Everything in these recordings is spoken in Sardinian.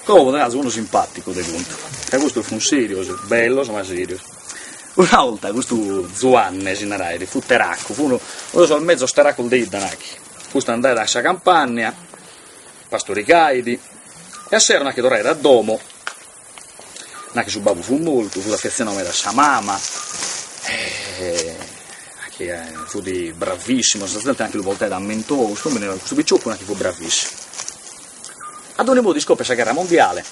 Como poderas unu simpàticu de contu, ca custos funt sèrios, bellos ma sèrios. Una 'olta custu Zuanne si naraiat, fut teracu, fut unu de sos mezus teracos de idda nachi, custu andaiat a sa campànnia, pastorigaiat e a sero nachi torraiat a domo Nachi su babbu fut mortu fut affezionau meda a sa mama e nachi fut bravissimu, sa zente nachi lu portaiat a mentovu, su nùmene custu piccioccu nachi fut bravissimu. A dogni modu iscoppiat sa gherra mondiale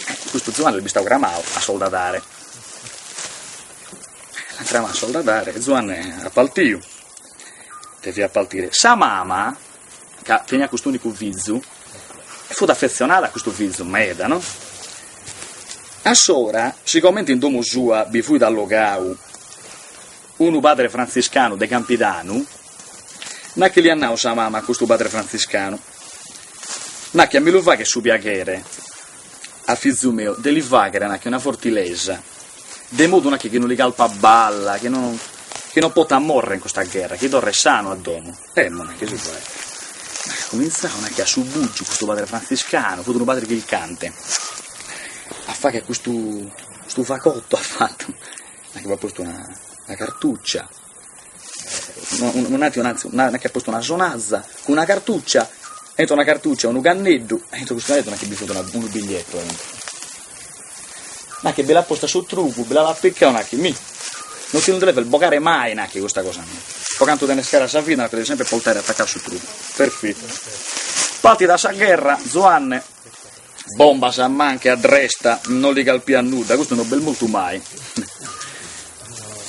e custu Zuanne est bistau cramau a soldadare, l'ant cramau a soldadare e Zuanne est partiu, deviat partire, sa mama ca teniat cust'unicu fizu, e fut affezionada a custu fizu meda, no? Assora, sigomente in domo sua bi fut allozau unu padre frantziscanu de Campidanu, nachi l'at nau sa mama a custu padre frantziscanu, nachi a mi lu faghet su piaghere a fizu meu de li faghere, nachi, una fortilesa, de modu, nachi, chi no li calfat balla, chi no, chi no potat morrer in custa gherra, chi torret sanu a domo. E mo, nachi, s'est comintzau nachi a su bugiu custu padre frantziscanu fut unu padre chircante, a fagher custu custu fagottu at fattu, nachi b'at postu una una cartuccia, non nai un'arzia, nachi at postu una sonaza cun una cartuccia, e intro una cartuccia unu canneddu, e intro custu canneddu nachi bi fut una unu bigliettu aintru Nachi bi l'at posta a su trugu, bi l'at apicau nachi mi. No ti nde lu deves bogare mai nachi custa cosa mia. Po cantu tenes cara sa vida lu deves sempre portare atacau a su trugu. Perfittu. Partida sa gherra, Zuanne, bombas a manca e a dresta, no li calfiat nudda, custu no b'est mortu mai.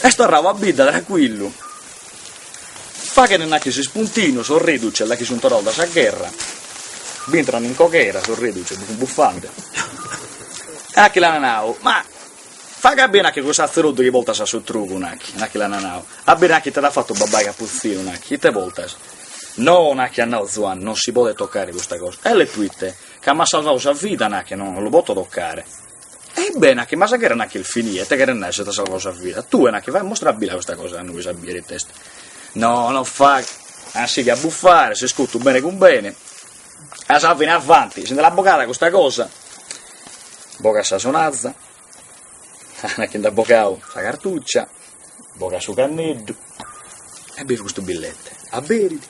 Est torrau a bidda tranquillu. Faghent nachi s'ispuntinu sos reduces la chi sun torrados da sa gherra, b'intran in coghera sos reduces bi sun buffande e nachi l'an nadu, ma faghe a biri nachi cussu atzeruddu chi poltas a su trugu nachi, nachi l'an nadu, a biri nachi ite t'at fattu babbai Capuzzinu nachi, ite poltas, no nachi at nadu Zuanni, non si podet toccare custa cosa, e proite, ca m'at salvadu sa vida nachi, no lu poto toccare. Ebbè, nacchi, ma sa gherra nacchi est finida, ite cheret nai si t'at salvau sa vida? Tue, nacchi, faghe, mostra a bi-la custa cosa a nois a bier ite est. No, no fagher, a sighire a bufare, s'iscutu bene cun bene, a sa fine avanti, si nde l'at bogada custa cosa, bogat sa sonaza, ah, nacchi nd'at bogau sa cartuccia, bogat su canneddu, e bidet custu billete, aberit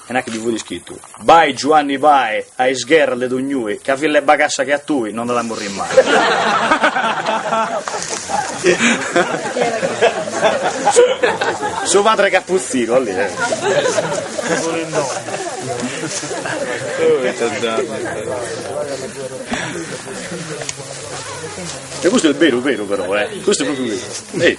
e nachi ddi fut iscritu, Bae Giuanni bae a is gherras de donnui, ca fill'e bagassa che a tui no nd'at a morri mai. Su padre Capuzzino, alli. E custu est beru beru però, eh! Custu est pròpriu beru.